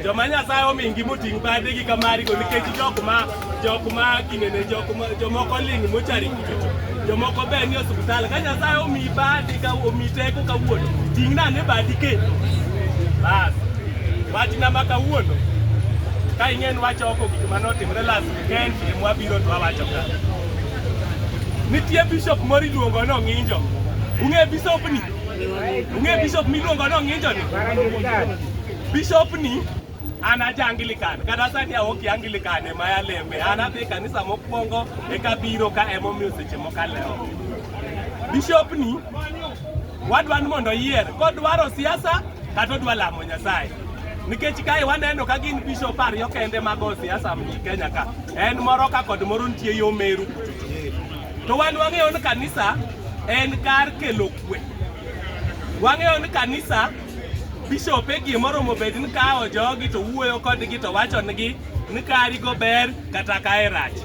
joma nyasaye omingi moting' badegi ka marigo nikech jokma jokma kinene jomoko ling' mochari kichocho jomoko ber ni osiptal ka nyasaye omi badi ka omi teko kawuono ting' nane badi kendo bas wachna ma kawuono ka ing'en wacho oko gik ma notimre las weekend em wabiro to wawacho ka nitie bishop moro iluongo ni ong'injo ung'e bishopni Ung'e bishop miluongo no ng'injo ni? Bishop ni anaja Anglican kata sani aonge Anglican ema yalembe an adhi e kanisa mokwongo eka biro ka emomiyo seche moko alewo. Bishop ni wadwa ni mondo oyier kodwaro siasa kata odwa lamo Nyasaye nikech kae waneno ka gin bishop ariyo kende mago siasa mji Kenya ka en moro ka kod moro nitie yo Meru To wan wang'eyo ni kanisa en kar kelo kwe. Wang'eyo ni kanisa bishop e gima oromo bed ni kawo jogi to wuoyo kodgi to wacho nigi ni kari go ber kata kae rach.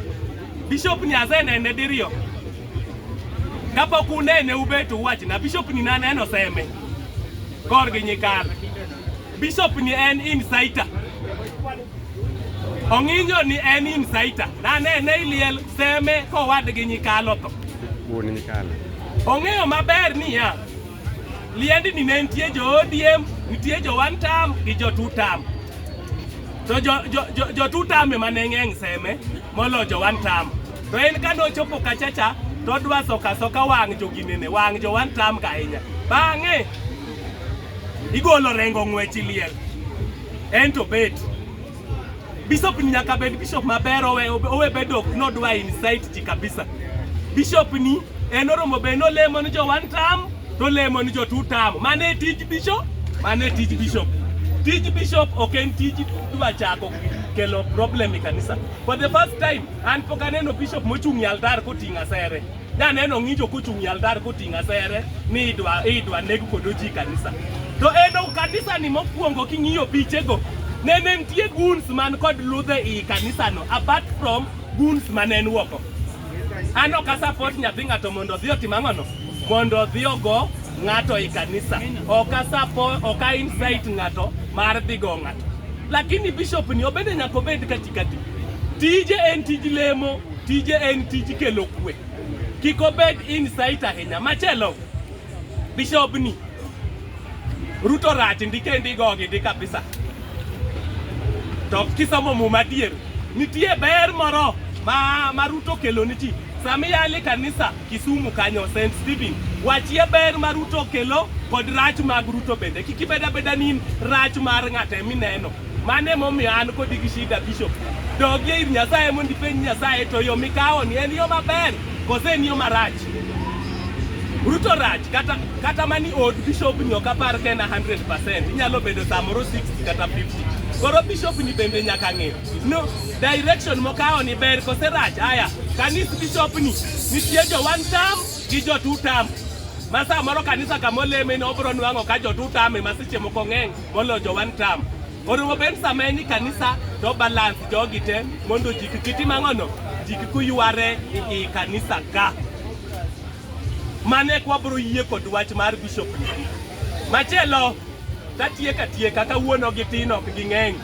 Bishop Nyaze nene diriyo. Kapok unene ubet uwachna bishop ni naneno seme kor gi nyikal. Bishop ni en insider. Ong'injo ni en insider. Na ne ne iliel seme kowadgi nyikalo to. Wuon nyikalo. Ong'eyo maber niya, liendi ni ne nitie jo ODM, nitie jo one term gi jo two term. To jo, jo, jo, jo two term ema ne ng'eng' seme molo jo one term. To en kane ochopo kachacha to odwa soka soka wang' joginene, wang' jo one term ka ahinya. Bang'e igolo rengo ng'wech iliel ento bet bishop ni nyaka bed bishop maber owe, owe bedo ok nodwa insight ji kabisa bishop ni en oromo be nolemo ni jo one term tolemo ni jo two term mano e tij bishop mano e tij bishop tij bishop ok en tij dwa chako kelo problem e kanisa for the first time an pok aneno bishop mochung' e altar koting'o asere Naneno ng'injo kochung' e altar koting'o asere ni idwa idwa neg kodo ji kanisa. To eno kanisa ni mokwongo king'iyo pichego ne ne nitie guns man kod ludhe i kanisano apart from guns ma ne en woko. An ok asapot nyathi ng'ato mondo odhi otim ang'ono mondo odhi ogo ng'ato i kanisa. Ok asapo ok a incite ng'ato mar dhi go ng'ato. Lakini bishop ni obende nyaka obed katikati. Tije en tij lemo. Tije en tij kelo kwe, kik obed insight ahinya. Machielo, bishobni Ruto rach ndike ndigo gi ndi kabisa. To kisomo muma adier, nitie ber moro ma, ma Ruto kelo ni ji. Sami yali kanisa Kisumu kanyo St. Stephen. Wachie ber ma Ruto okelo kod rach mag Ruto bende. Kik ibed abeda ni rach mar ng'ato ema ineno. Mano ema omiyo an kodi gi shida bishop. Dogie ir Nyasaye mondo ipenj Nyasaye to yo mikawoni en yo maber koso en yo marach. Ruto rach kata kata mani od bishop ni ok apar ka en 100%. Inyalo bedo samoro 60 kata 50. Koro bishop ni bende nyaka ng'e. No, direction mokawo ni ber kose rach? Aya, kanis bishop ni nitie jo one term gi jo two term ma saa moro kanisa kama ni obro nwang'o ka jo two term ema seche moko ng'eny molo jo one term orumo ben sama en kanisa to balance jogi te mondo ji kik gitim ang'ono ji kik yware i kanisa ka mane kwabro yie kod wach mar bishop ni machielo Katiek atieka kawuono gi tin ok ging'eny.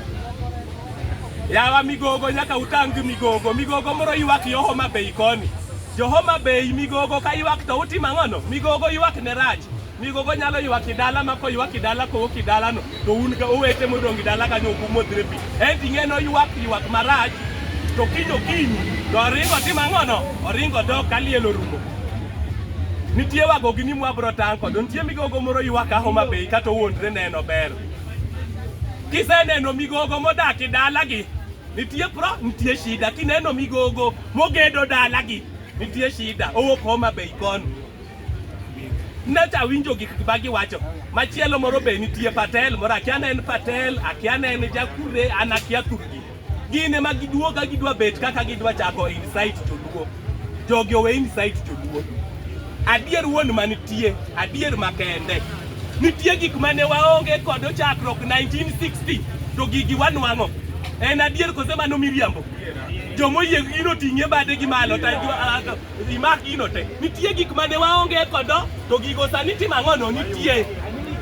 Yawa migogo nyaka utang gi migogo. Migogo moro ywak yo Homa Bay koni. Jo Homa Bay migogo ka ywak to utimo ang'ono? Migogo ywak ne rach. Migogo nyalo ywak e dala ma koywak e dala kowok e dalano to un ka owete modong' e dala kanyo ok umodhre pi. En ting'e no ywak ywak marach to kinyo kinyi to oringo timo ang'ono? Oringo dok ka liel orumo. Nitie wago gi ni mwabro tang' kod nitie migogo moro ywak a Homa Bay kata owuondre neno ber. Kiseneno migogo modak e dalagi, nitie pro, nitie shida. Kineno migogo mogedo dalagi, nitie shida. Owuok Homa Bay koni. Nacha winjo gik ma giwacho. Machielo moro be nitie Patel moro akia ne en Patel, akia ne en Jakure, an akia thurgi. Gin ema giduo ka gidwa bet kaka gidwa chako insight joluo. Jogi owe insight joluo. Adier wuon manitie, adier makende. Nitie gik mane waonge kod chakruok 1960 to gigi wanwang'o. En adier kose mano miriambo. Jomoyie gino ting'e bade gi malo ta imak gino te. Nitie gik mane waonge kodo to gigo sani timo ang'ono nitie.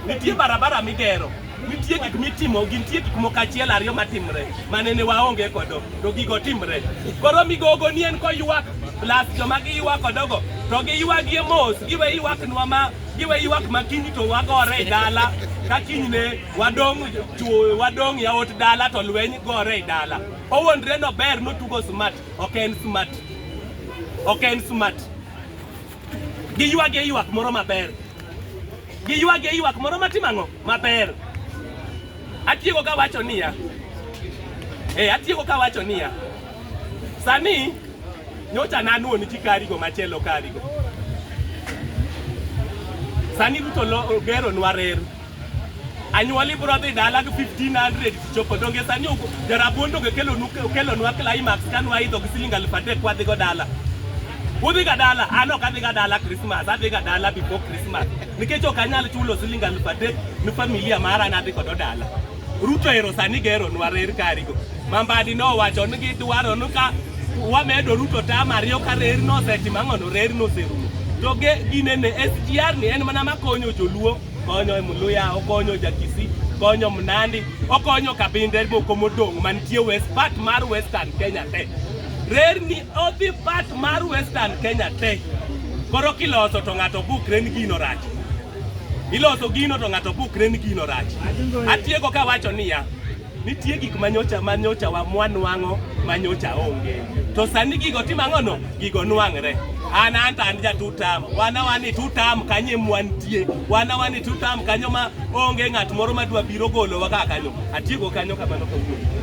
Nitie barabara migero. Nitie gik mitimo, gintie gik moko achiel ariyo matimre manene waonge kodo to gigo timre. Koro migogo ni en koywak plus joma giywak kodogo to giywagie mos giwe ywaknwa ma giwe ywak ma kiny to wagore e dala ka kinyne wadong' chuo wadong' yaot dala to lweny gore e dala. Owondre no ber notugo smart ok en smart ok en smart. Giywage ywak moro maber. Giywage ywak moro matimo ang'o? Maber. Atieko ka wacho niya. Eh, atieko ka wacho niya. Sani nyocha nanuo ni kikarigo machielo karigo. Sani Ruto lo- ogero nwa reru. Anyuoli bro dhi dala gi 1500 chopo donge sani jarabon donge kelonu kelonwa climax kanu aidho gi siling alif adek wadhi go dala. Udhi ga dala, an ok adhi ga dala Christmas, adhi ga dala before Christmas. Nikech ok anyal chulo siling alif adek ni familia mara nadhi kodo dala. Ruto ero sani gero nwa rer karigo. Mambadi nowacho ni gidwaro ni ka wamedo Ruto tam ariyo ka rer nosetimo ang'ono rer noserumo. To ge ginene SGR ni en mana makonyo joluo konyo Muluya, okonyo Jakisi, konyo Mnandi, okonyo Kabinde moko modong' mantie west part mar Western Kenya te. Rerni odhi part mar Western Kenya te. Koro kiloso to ng'ato bukre ni gino rach. Iloso gino to ng'ato bukre ni gino rach. Atieko kawacho niya, Nitie gik manyocha manyocha wa mwanwang'o manyocha onge. To sani gigo timo ang'ono? Gigo nwang're. An anta an ja tutam. Wana wani tutam kanye mwantie. Wana wani tutam kanyo ma onge ng'at moro madwa biro golowa ka kanyo. Atieko kanyo kamano kawuono.